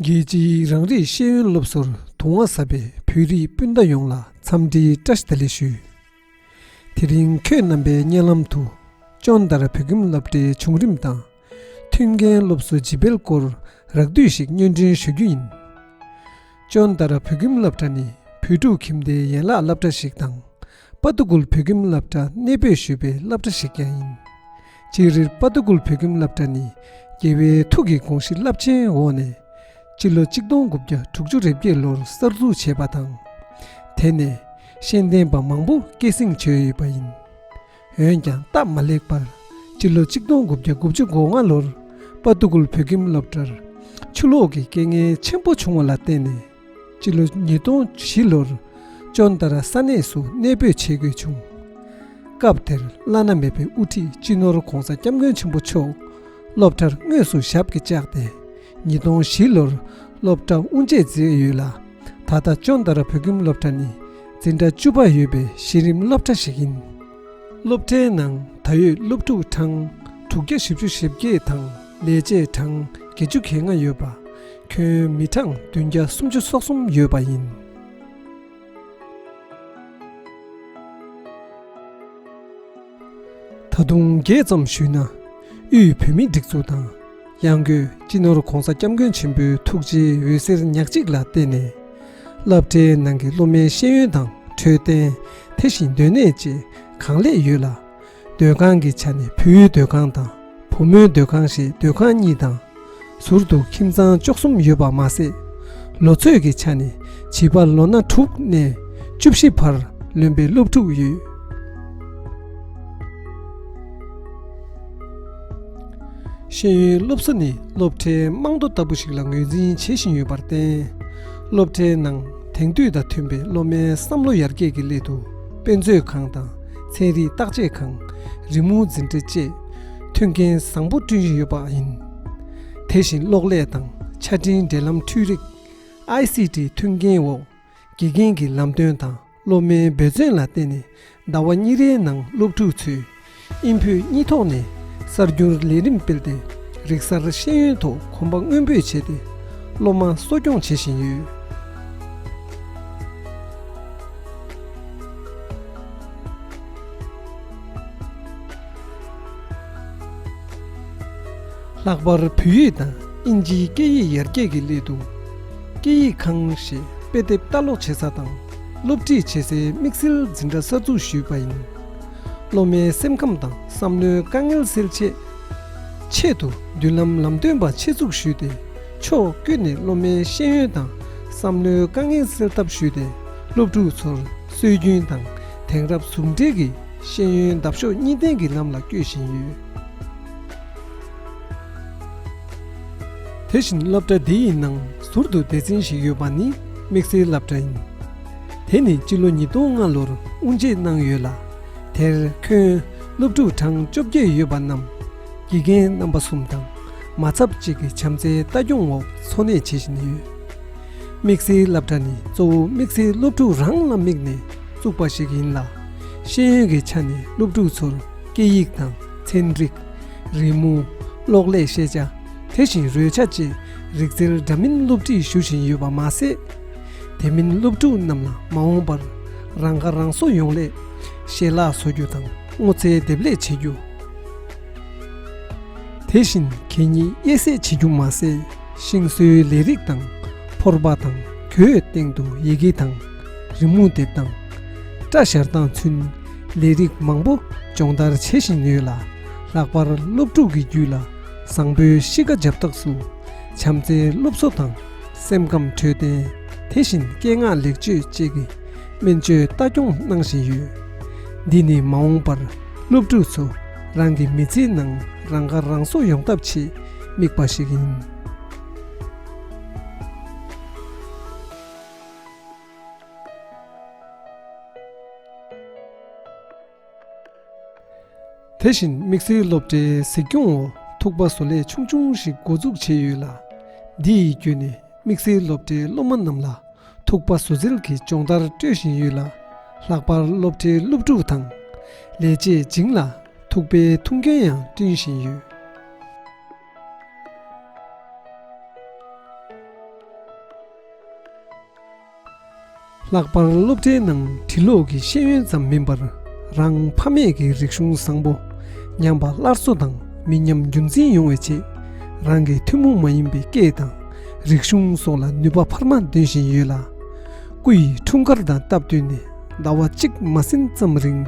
རྒྱལ་སྤྱིའི་རང་རིགས་ཤེས་ཡོན་སློབ་གསོར་དུང་བ་ཟབ་པའི་བོད་རིགས་སྤུན་ཟླ་ཡོངས་ལ་འཚམས་འདྲིའི་བཀྲ་ཤིས་བདེ་ལེགས་ཞུ། དེ་རིང་ཁྱོད་རྣམ་པའི་སྙན་ལམ་དུ་ཅོང་དར་བོད་ཁྱིམ་སློབ་གྲྭའི་བྱུང་རིམ་དང། མཐུན་རྐྱེན་སློབ་གསོ་བརྗེ་སྤེལ་སྐོར་རགས་བསྡུས་ཤིག་སྙན་སྒྲོན་ཞུ་རྒྱུ་ཡིན། ཅོང་དར་བོད་ཁྱིམ་སློབ་གྲྭ་ནི་བོད་ཕྲུག་ཁྱིམ་སྡེའི་ཡན་ལག་སླབ་གྲྭ་ཞིག་དང། པཱ་ཏུ་ཀུལ་བོད་ཁྱིམ་བསླབ་གྲྭ་གནས་སྤོས་ཞུས་པའི་བསླབ་གྲྭ་ཞིག་ཀྱང་ཡིན། ཅིག་རིར་དཔའ་ཏུ་ཀུལ་བོད་ཁྱིམ་བསླབ་གྲྭ་ནི་རྒྱལ་བའི་ཐུགས་ཀྱི་དགོངས་གཞི་རླབས་ཆེན་འོག་ནས་སྤྱི་ལོ་གཅིག་སྟོང་དགུ་བརྒྱ་དྲུག་ཅུ་རེ་བརྒྱད་ལོར་གསར་འཛུགས་བྱས་པ་དང། དེ་ནས་ཤེས་ལྡན་པ་མང་པོ་སྐྱེད་བསྲིང་བྱོས་ཡོད་པ་ཡིན། འོན་ཀྱང་སྟབས་མ་ལེགས་པར་སྤྱི་ལོ་གཅིག་སྟོང་དགུ་བརྒྱ་དགུ་བཅུ་གོ་ལྔ་ལོར་དཔའ་ཏུ་ཀུལ་བོད་ཁྱིམ་སློབ་གྲྭར་ཆུ་ལོག་གི་རྐྱེན་ངན་ཆེན་པོ་བྱུང་བ་ལ་བརྟེན་ནས། སྤྱི་ལོ་ཉིས་སྟོང་བཞི་ལོར་ཅོ་མདར་ས་གནས་སུ་གནས་སྤོས་བྱེད་དགོས་བྱུང། སྐབས་དེར་བླ་ན་མེད་པའི་དབུ་ཁྲིད་སྤྱི་ནོར ྋགོང་ས ྋསྐྱབས་མགོན་ཆེན་པོ་མཆོག་སློབ་གྲྭར་དངོས་སུ་ཞབས་ཀྱིས་བཅགས་ཏེ་ཉིས་སྟོང་བཞི་ལོར་སློབ་གྲྭ་དབུ་འབྱེད་མཛད་ཡོད་ལ། ད་ལྟ་ཅོ་མདར་བོད་ཁྱིམ་སློབ་གྲྭ་ནི་འཛིན་གྲྭ་བཅུ་པ་ཡོད་པའི་གཞི་རིམ་སློབ་གྲྭ་ཞིག་ཡིན། སློབ་གྲྭའི་ནང་ད་ཡོད་སློབ་ཕྲུག་གྲངས་དྲུག་བརྒྱ་བཞི་བཅུ་ཞེ་བརྒྱད་དང་ལས་བྱེད་གྲངས་བརྒྱད་ཅུ་གྱ་ལྔ་ཡོད་པ། ཁྱོན་མི་གྲངས་བདུན་བརྒྱ་སུམ་ཅུ་སོ་གསུམ་ཡོད་པ་ཡིན། ད་དུང་རྒྱས་ཙམ་ཞུས་ན། དབུས་བོད་མིའི་སྒྲིག་འཛུགས་དང། གཡང་སྐྱོད་སྤྱི་ནོར ྋགོང་ས ྋསྐྱབས་མགོན་ཆེན་པོའི་ཐུགས་རྗེའི་འོད་ཟེར་ཉག་གཅིག་ལ་བརྟེན་ནས། བསླབ་གྲྭའི་ནང་གི་སློབ་མའི་ཤེས་ཡོན་དང་འཕྲོད་བསྟེན། དེ་བཞིན་སྡོད་གནས་བཅས་གང་ལེགས་ཡོད་ལ། སྡོད་ཁང་གི་ཆ་ནས་བུའི་སྡོད་ཁང་དང་བུ་མོའི་སྡོད་ཁང་ཞེས་སྡོད་ཁང་གཉིས་དང། ཟུར་དུ་ཁྱིམ་ཚང་བཅུ་གསུམ་ཡོད་པར་མ་ཟད། ལོ་ཚོད་ཀྱི་ཆ་ནས་བྱིས་པ་ལོ་ན་དྲུག་ནས་བཅུ་བཞི་བར་ལོན་པའི་སློབ་ཕྲུག་ཡོད། ཤེས་ཡོན་སློབ་གསོ་ནི་སློབ་གྲྭའི་རྨང་རྡོ་ལྟ་བུ་ཞིག་ལ་ངོས་འཛིན་བྱེད་བཞིན་ཡོད་པར་བརྟེན། སློབ་གྲྭའི་ནང་དེང་དུས་དང་མཐུན་པའི་སློབ་མའི་བསམ་བློ་ཡར་རྒྱས་ཀྱི་སླད་དུ་དཔེ་མཛོད་ཁང་དང་ཚན་རིག་བརྟག་དཔྱད་ཁང། རི་མོ་འཛིན་གྲྭ་བཅས་མཐུན་རྐྱེན་བཟང་པོ་བསྐྲུན་བཞིན་ཡོད་པ་ཡིན། དེ་བཞིན་གློག་ཀླད་དང་ཆ་འཕྲིན་འབྲེལ་ལམ་འཕྲུལ་རིགས། ICT། མཐུན་རྐྱེན་འོག་དགེ་རྒན་གྱི་ལམ་སྟོན་དང། སློབ་མའི་འབོད་བརྩོན་ལ་བརྟེན་ནས་ཟླ་བ་གཉིས་རེའི་ནང་སློབ་ཕྲུག་ཚོས་ཨིན་བོད་གཉིས་ཐོག་ནས་གསར་འགྱུར་ལས་རིམ་སྤེལ་ཏེ་རིག་གསར་ཤེས་ཡོན་ཐོག་གོམ་པ་སྔོན་སྤོས་བྱས་ཏེ་སློབ་མ་གསོ་སྐྱོང་བྱེད་བཞིན་ཡོད། ལྷག་པར་བོད་ཡིག་དང་ཨིན་ཇིའི་སྐད་ཡིག་ཡར་རྒྱས་ཀྱི་སླད་དུ། སྐད་ཡིག་ཁང་ཞེས་དཔེ་དེབ་ལྟ་ཀློག་བྱེད་ས་དང་སློབ་ཁྲིད་བྱེད་སའི་དམིགས་བསལ་འཛིན་གྲྭ་གསར་འཛུགས་ཞུས་པ་ཡིན། སློབ་མའི་སེམས་ཁམས་དང་བསམ་བློའི་དཀའ་ངལ་སེལ་ཆེད། ཆེད་དུ་མདུན་ལམ་ལམ་སྟོན་པ་ཆེད་འཛུགས་ཞུས་ཏེ་ཕྱོགས་ཀུན་ནས་སློབ་མའི་ཤེས་ཡོན་དང་བསམ་བློའི་དཀའ་ངལ་སེལ་ཐབས་ཞུས་ཏེ་སློབ་ཕྲུག་ཚོར་སྲོལ་རྒྱུན་དང་དེང་རབས་ཟུང་འབྲེལ་གྱི་ཤེས་ཡོན་འདབ་གཤོག་གཉིས་ལྡན་གྱི་ལམ་ལ་སྐྱོད་བཞིན་ཡོད། དེ་བཞིན་སློབ་གྲྭ་འདི་ཡི་ནང་ཟུར་དུ་སྡེ་ཚན་ཞིག་ཡོད་པ་ནི་དམིགས་བསལ་སླབ་གྲྭ་ཡིན། དེ་ནི་སྤྱི་ལོ་ཉིས་སྟོང་ལྔ་ལོར་དབུ་འབྱེད་གནང་ཡོད་ལ། དེར་ཁྱོན་སློབ་ཕྲུག་གྲངས་བཅོ་བརྒྱད་ཡོད་པ་རྣམས་དགེ་རྒན་རྣམ་པ་གསུམ་དང་མ་ཚབ་གཅིག་གི་བྱམས་བརྩེའི་ལྟ་སྐྱོང་འོག་འཚོ་གནས་བྱེད་བཞིན་ཡོད། དམིགས་བསལ་སླབ་གྲྭ་ནི་གཙོ་བོ་དམིགས་བསལ་སློབ་ཕྲུག་རང་ལ་དམིགས་ནས་བཙུགས་པ་ཞིག་ཡིན་ལ། ཤེས་ཡོན་གྱི་ཆ་ནས་སློབ་ཕྲུག་ཚོར་སྐད་ཡིག་དང་ཚན་རིག། རི་མོ། གློག་ཀླད་ཤེས་བྱ། དེ་བཞིན་རོལ་ཆ་བཅས་རིག་རྩལ་འདྲ་མིན་སློབ་ཁྲིད་ཞུ་བཞིན་ཡོད་པ་མ་ཟད། དེ་མིན་སློབ་ཕྲུག་རྣམས་ལ་མ་འོངས་པར་རང་ཁ་རང་གསོ་ཡོང་སླད་ཞལ་ལག་བཟོ་རྒྱུ་དང་སྔོ་ཚལ་འདེབས་ལས་བྱེད་རྒྱུ། དེ་བཞིན་གད་སྙིགས་དབྱེ་གསེད་བྱེད་རྒྱུ་མ་ཟད་ཤིང་བཟོའི་ལས་རིགས་དང་ཕོར་པ་དང་གྱོའི་སྟེང་དུ་ཡི་གེ་དང་རི་མོ་འདེབས་སྟངས། སྐྲ་བཞར་སྟངས་ཚུན། ལས་རིགས་མང་པོ་སྦྱོང་བརྡར་བྱེད་བཞིན་ཡོད་ལ། ལྷག་པར་སློབ་ཕྲུག་གི་རྒྱུད་ལ་བཟང་པོའི་གཤིས་ཀ་འཇབ་རྟགས་སུ། བྱམས་བརྩེའི་སློབ་གསོ་དང་སེམས་ཁམས་འཕྲོད་བསྟེན། དེ་བཞིན་སྐད་ངག་ལེགས་བཅོས་བཅས་ཀྱི་སྨན་བཅོས་ལྟ་སྐྱོང་གནང་བཞིན་ཡོད། འདི་ནི་མ་འོངས་པར་སློབ་ཕྲུག་ཚོ་རང་གི་མི་ཚེའི་ནང་རང་ཁ་རང་གསོ་ཡོང་ཐབས་ཆེད་དམིགས་པ་ཞིག་ཡིན། དེ་བཞིན་དམིགས་བསལ་སློབ་གྲྭའི་གཟིགས་སྐྱོང་འོག་ཐུག་པ་བཟོ་ལས་ཆུང་ཆུང་ཞིག་འགོ་འཛུགས་བྱས་ཡོད་ལ། འདི་ཡི་བརྒྱུད་ནས་དམིགས་བསལ་སློབ་གྲྭའི་སློབ་མ་རྣམས་ལ་ཐུག་པ་བཟོ་རྩལ་གྱི་སྦྱོང་བརྡར་སྤྲོད་བཞིན་ཡོད་ལ། ལྷག་པར་སློབ་གྲྭའི་སློབ་ཕྲུག་དང་ལས་བྱེད་སྦྱིན་ལ་ཐུག་པའི་ཐུགས་འགན་ཡང་བསྐྲུན་བཞིན་ཡོད། ལྷག་པར་སློབ་གྲྭའི་ནང་བྲིས་ཀློག་གི་ཤེས་ཡོན་ཙམ་མིན་པར་རང་ཕ་མེས་ཀྱི་རིག་གཞུང་བཟང་པོ་ཉམས་པ་སླར་གསོ་དང་མི་ཉམས་རྒྱུན་འཛིན་ཡོང་བའི་ཆེད་རང་གི་ཐུན་མོང་མ་ཡིན་པའི་སྐད་དང་རིག་གཞུང་སོགས་ལ་ནུས་པ་འཕར་མ་འདོན་བཞིན་ཡོད་ལ། སྐུ་ཡི་འཁྲུངས་སྐར་དང་སྟབས་བསྟུན་ནས་ཟླ་བ་གཅིག་མ་ཟིན་ཙམ་རིང་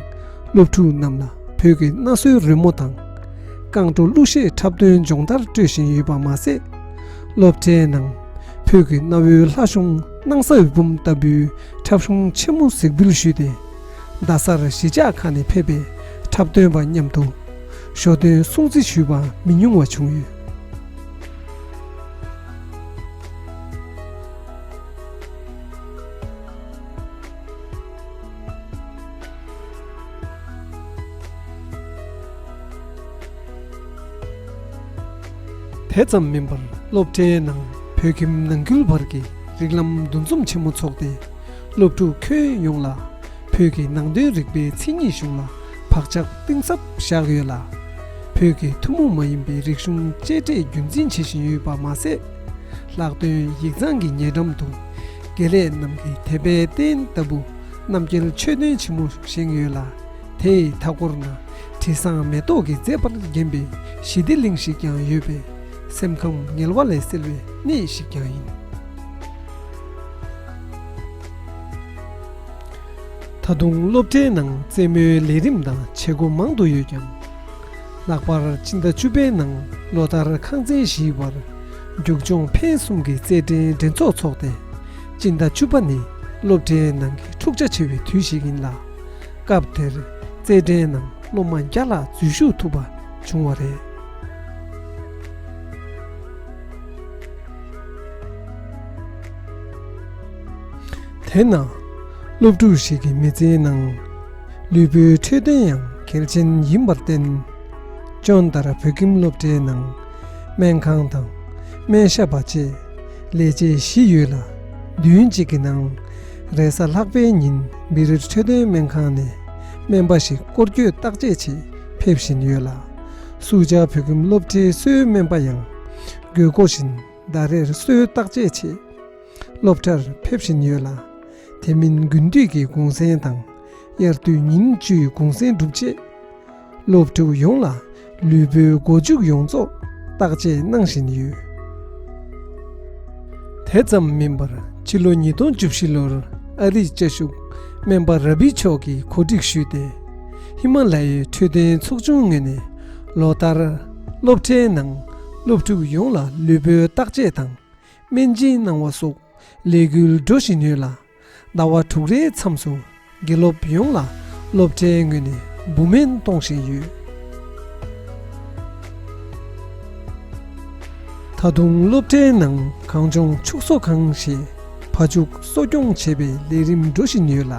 སློབ་ཕྲུག་རྣམས་ལ་བོད་ཀྱི་གནའ་སྲོལ་རོལ་མོ་དང། རྐང་བྲོ་གླུ་གཞས་འཁྲབ་སྟོན་སྦྱོང་བརྡར་སྤྲོད་བཞིན་ཡོད་པ་མ་ཟད། སློབ་གྲྭའི་ནང། ཕུག་གི་གནའ་བོའི་ལྷ་གཞུང་སྣང་ས་འོད་འབུམ་ལྟ་བུའི་འཁྲབ་གཞུང་ཆེན་མོ་གཟིགས་འབུལ་ཞུས་ཏེ། རྡ་སར་གཞིས་ཆགས་ཁག་ནས་ཕེབས་པའི་འཁྲབ་སྟོན་པ་མཉམ་དུ་ཞོ་སྟོན་སྲུང་བརྩི་ཞུས་པ་མི་ཉུང་བ་བྱུང་ཡོད། དེ་ཙམ་མིན་པར་སློབ་གྲྭའི་ནང་བོད་ཁྱིམ་ནང་ཁུལ་བར་གྱི་རིགས་ལམ་འདུ་འཛོམས་ཆེན་མོ་འཚོགས་ཏེ། སློབ་ཕྲུག་ཁྱོན་ཡོངས་ལ་བོད་ཀྱི་ནང་དོན་རིག་པའི་མཚན་ཉིད་གཞུང་ལ་བག་ཆགས་གཏིང་ཟབ་བཞག་ཡོད་ལ། བོད་ཀྱི་ཐུན་མོང་མ་ཡིན་པའི་རིག་གཞུང་གཅེས་སྤྲས་རྒྱུན་འཛིན་བྱེད་བཞིན་ཡོད་པ་མ་ཟད། ལྷག་དོན་ཡིག་ཚང་གི་ཉེ་འགྲམ་དུ་དགེ་ལས་རྣམས་ཀྱི་དད་པའི་རྟེན་ལྟ་བུ་རྣམ་རྒྱལ་ཆོས་སྟོན་ཆེན་མོ་བཞེངས་ཡོད་ལ། དེ་ཡི་མཐའ་སྐོར་ན་དྲི་བཟང་མེ་ཏོག་གིས་མཛེས་པར་བརྒྱན་པའི་ཞི་བདེ་གླིང་ཞིག་ཀྱང་ཡོད་པས་སེམས་ཁམས་ངལ་བ་ལས་སེལ་བའི་གནས་ཤིག་ཀྱང་ཡིན། ད་དུང་སློབ་གྲྭའི་ནང་རྩེད་མོའི་ལས་རིམ་དང་བྱེད་སྒོ་མང་དུ་ཡོད་ཀྱང། ལྷག་པར་སྤྱི་ཟླ་བཅུ་པའི་ནང་ལོ་ལྟར་ཁང་ཚན་བཞིའི་བར་རྒྱུག་སྦྱོང་འཕེན་གསུམ་གྱི་རྩེད་འགྲན་འགྲན་ཚོགས་འཚོགས་ཏེ། སྤྱི་ཟླ་བཅུ་པ་ནི་སློབ་གྲྭའི་ནང་གི་འཁྲུག་ཆ་ཆེ་བའི་དུས་ཤིག་ཡིན་ལ། སྐབས་དེར་རྩེད་འགྲན་ནང་སློབ་མ་བརྒྱ་ལྷག་འཛུལ་ཞུགས་ཐུབ་པ་བྱུང་བ་རེད། དེས་ན་སློབ་ཕྲུག་ཞིག་གི་མི་ཚེའི་ནང་ལུས་པོའི་འཕྲོད་བསྟེན་ཡང་གལ་ཆེན་ཡིན་པར་བརྟེན། སྤྱོན་ལྟར་བོད་ཁྱིམ་སློབ་གྲྭའི་ནང་སྨན་ཁང་དང་སྨན་ཞབས་པ་བཅས་ལས་བྱེད་བཞི་ཡོད་ལ་མདུན་གཅིག་གི་ནང་རེས་གཟའ་ལྷག་པའི་ཉིན་མི་རིར་འཕྲོད་བསྟེན་སྨན་ཁང་ནས་སྨན་པ་ཞིག་སྐོར་སྐྱོད་བརྟག་དཔྱད་ཆེད་ཕེབས་བཞིན་ཡོད་ལ། སུའུ་ཅཱ་བོད་ཁྱིམ་སློབ་གྲྭའི་གསོའི་སྨན་པ་ཡང་དགོས་མཁོ་བཞིན་ཟླ་རེར་གསོའི་བརྟག་དཔྱད་ཆེད་སློབ་གྲྭར་ཕེབས་བཞིན་ཡོད་ལ། དེ་མིན་དགུན་དུས་ཀྱི་གུང་གསེང་དང་དབྱར་དུས་ཉིན་བཅུའི་གུང་གསེང་སྒྲུབ་ཆེད། སློབ་ཕྲུག་ཡོངས་ལ་ལུས་པོའི་མགོ་འཇུག་ཡོངས་རྫོགས་བརྟག་དཔྱད་གནང་བཞིན་ཡོད། དེ་ཙམ་མིན་པར་ཕྱི་ལོ་ཉིས་སྟོང་བཅུ་བཞི་ལོར་ཨ་རིའི་དཔྱད་གཞུག་སྨན་པ་ར་བྷི་མཆོག་གིས་གོ་སྒྲིག་ཞུས་ཏེ་ཧི་མ་ལ་ཡའི་འཕྲོད་བསྟེན་ཚོགས་ཆུང་ངོས་ནས་ལོ་ལྟར་སློབ་གྲྭའི་ནང་སློབ་ཕྲུག་ཡོངས་ལ་ལུས་པོའི་བརྟག་དཔྱད་དང་སྨན་སྦྱིན་གནང་བ་སོགས་ལས་འགུལ་འགྲོ་བཞིན་ཡོད་ལ། ཟླ་བ་དྲུག་རེའི་མཚམས་སུ་དགེ་སློབ་ཡོངས་ལ་སློབ་གྲྭའི་ངོས་ནས་འབུམ་སྨན་གཏོང་བཞིན་ཡོད། ད་དུང་སློབ་གྲྭའི་ནང་གངས་ལྗོངས་ཕྱུགས་གསོ་ཁང་ཞེས་ཕ་ཕྱུགས་གསོ་སྐྱོང་བྱེད་པའི་ལས་རིམ་འགྲོ་བཞིན་ཡོད་ལ།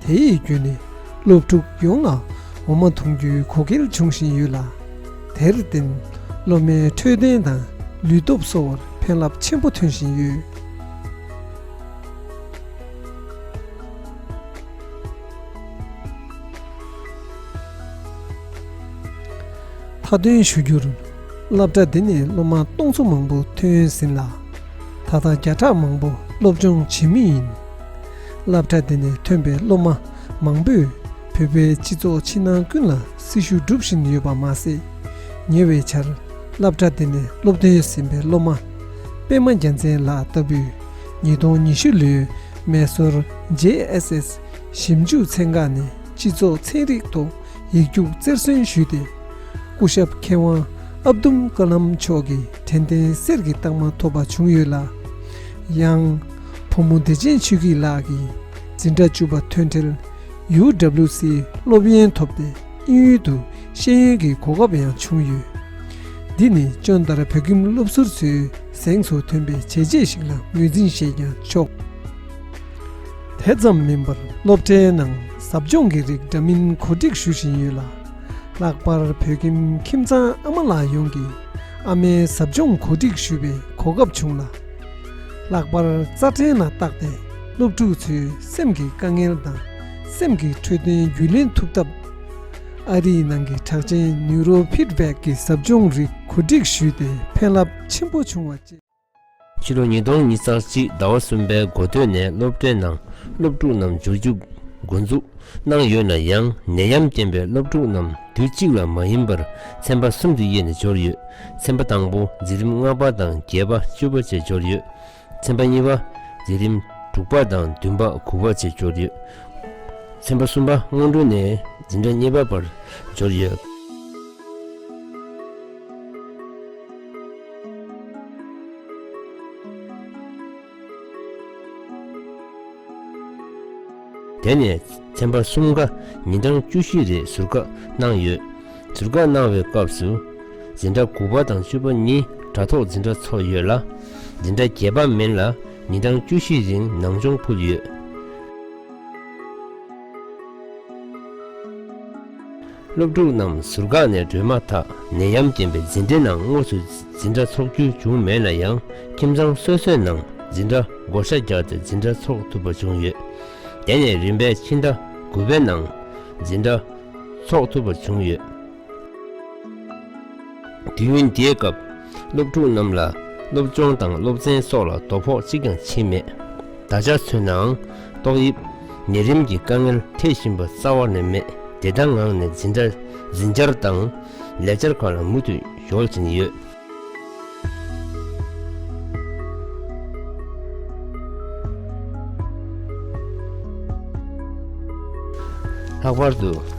དེ་ཡི་བརྒྱུད་ནས་སློབ་ཕྲུག་ཡོངས་ལ་འོ་མ་འཐུང་རྒྱུའི་གོ་སྐལ་འབྱུང་བཞིན་ཡོད་ལ། དེར་བརྟེན་སློབ་མའི་འཕྲོད་བསྟེན་དང་ལུས་སྟོབས་གསོ་བར་ཕན་རླབས་ཆེན་པོ་ཐོན་བཞིན་ཡོད། མཐའ་འདོན་ཞུ་རྒྱུར། སློབ་གྲྭ་འདི་ནས་སློབ་མ་སྟོང་ཚོ་མང་པོ་ཐོན་ཟིན་ལ། ད་ལྟ་བརྒྱ་ཕྲག་མང་པོ་སློབ་སྦྱོང་བྱེད་མུས་ཡིན། སླབ་གྲྭ་འདི་ནས་ཐོན་པའི་སློབ་མ་མང་པོས་བོད་པའི་སྤྱི་ཚོགས་ཕྱི་ནང་ཀུན་ལ་སྲི་ཞུ་སྒྲུབ་བཞིན་ཡོད་པ་མ་ཟད། ཉེ་བའི་ཆར་སླབ་གྲྭ་འདི་ནས་སློབ་ཐོན་ཟིན་པའི་སློབ་མ། པད་མ་རྒྱལ་མཚན་ལགས་ལྟ་བུས་ཉིས་སྟོང་ཉི་ཤུ་ལོའི་མེ་སོར JSS ཞིབ་འཇུག་ཚན་ཁག་ནས་སྤྱི་ཚོགས་ཚན་རིག་ཐོག་ཡིག་རྒྱུགས་རྩེར་སོན་ཞུས་ཏེ། སྐུ་ཞབས་མཁས་དབང་ཨབ་དུམ་ཀ་ལམ་མཆོག་གི་དྲན་རྟེན་གསེར་གྱི་རྟགས་མ་ཐོབ་པ་བྱུང་ཡོད་ལ། ཡང། ཕོ་མོ་བདེ་ཆེན་ཆོས་སྐྱིད་ལགས་ཀྱིས་འཛིན་གྲྭ་བཅུ་པ་ཐོན་འཕྲལ UWC སློབ་ཡོན་ཐོབ་སྟེ། དབྱིན་ཡུལ་དུ་ཤེས་ཡོན་གྱི་གོ་སྐབས་ཡང་བྱུང་ཡོད། འདི་ནི་ཅོན་ཏར་བོད་ཁྱིམ་སློབ་ཟུར་ཚོའི་གཟེངས་སུ་ཐོན་པའི་བྱས་རྗེས་ཤིག་ལ་ངོས་འཛིན་ཞེས་ཀྱང་ཆོག། དེ་ཙམ་མིན་པར་སློབ་གྲྭའི་ནང་ཟབ་སྦྱོང་གི་རིགས་འདྲ་མིན་གོ་སྒྲིག་ཞུ་བཞིན་ཡོད་ལ། ལྷག་པར་བོད་ཁྱིམ་ཁྱིམ་ཚང་ཨ་མ་ལགས་ཡོངས་ཀྱིས་ཨ་མའི་ཟབ་སྦྱོང་གོ་སྒྲིག་ཞུ་བའི་གོ་སྐབས་བྱུང་ལ། ལྷག་པར་རྩ་ཕྲན་ལ་བརྟགས་ཏེ་སློབ་ཕྲུག་ཚོའི་སེམས་ཀྱི་དཀའ་ངལ་དང། སེམས་ཀྱི་འཕྲོད་བསྟེན་རྒྱུས་ལེན་ཐུབ་ཐབས། ཨ་རིའི་ནང་གི་གྲགས་ཅན Neuro Feedback གི་ཟབ་སྦྱོང་རིགས་གོ་སྒྲིག་ཞུས་ཏེ་ཕན་རླབས་ཆེན་པོ་བྱུང་བ་བཅས། ཕྱི་ལོ་ཉིས་སྟོང་ཉིས་རྩ་གཅིག་ཟླ་བ་གསུམ་པའི་མགོ་སྟོད་ནས་སློབ་གྲྭའི་ནང་སློབ་ཕྲུག་རྣམས་འབྱོར་རྒྱུ་འགོ་འཛུགས་གནང་ཡོད་ན་ཡང་ནད་ཡམས་རྐྱེན་པས་སློབ་ཕྲུག་རྣམས་དུས་གཅིག་ལ་མ་ཡིན་པར་ཚན་པ་གསུམ་དུ་དབྱེ་ནས་འབྱོར་ཡོད། ཚན་པ་དང་པོ་འཛིན་རིམ་ལྔ་པ་དང་བརྒྱད་པ་བཅུ་པ་བཅས་འབྱོར་ཡོད། ཚན་པ་གཉིས་པ། འཛིན་རིམ་དྲུག་པ་དང་བདུན་པ་དགུ་པ་བཅས་འབྱོར་ཡོད། ཚན་པ་གསུམ་པ་སྔོན་འགྲོ་ནས་འཛིན་གྲྭ་གཉིས་པ་བར་འབྱོར་ཡོད། དེ་ནས་ཚན་པ་གསུམ་ཀ་ཉིན་གྲངས་བཅུ་བཞི་རེ་ཟུར་བཀག་གནང་ཡོད། ཟུར་བཀག་གནང་བའི་སྐབས་སུ། འཛིན་གྲྭ་དགུ་པ་དང་བཅུ་པ་གཉིས་དྲ་ཐོག་འཛིན་གྲྭ་ཚོགས་ཡོད་ལ། འཛིན་གྲྭ་བརྒྱད་པ་མིན་ལ་ཉིན་གྲངས་བཅུ་བཞི་རིང་ནང་སྦྱོང་ཕུལ་ཡོད། སློབ་ཕྲུག་རྣམས་ཟུར་བཀག་ནས་སྡོད་མ་ཐག་ནད་ཡམས་རྐྱེན་པས་འཛིན་གྲྭའི་ནང་དངོས་སུ་འཛིན་གྲྭ་འཚོགས་རྒྱུ་བྱུང་མེད་ན་ཡང་ཁྱིམ་ཚང་སོ་སོའི་ནང་འཛིན་གྲྭ་བགོ་བཤའ་རྒྱག་སྟེ་འཛིན་གྲྭ་འཚོགས་ཐུབ་པ་བྱུང་ཡོད། དེ་ནས་རིམ་པས་ཕྱི་ཟླ་དགུ་པའི་ནང་འཛིན་གྲྭ་འཚོགས་ཐུབ་པ་བྱུང་ཡོད། དུས་ཡུན་དེའི་སྐབས། སློབ་ཕྲུག་རྣམས་ལ་སློབ་སྦྱོང་དང་སློབ་ཚན་སོགས་ལ་དོ་ཕོག་གཅིག་ཀྱང་བྱེད་མེད། ད་ཆར་མཚོན་ནའང་ཏོག་དབྱིབས་ནད་རིམས་ཀྱི་དཀའ་ངལ་འཕྲད་བཞིན་པ་རྩ་བ་ནས་མེད་བདེ་དང་ངང་ནས་འཛིན་གྲྭ་འཛིན་བཅར་དང་ལས་བཅར་ཁག་ལ་མུ་མཐུད་གཞོལ་བཞིན་ཡོད། ལྷག་པར་དུ།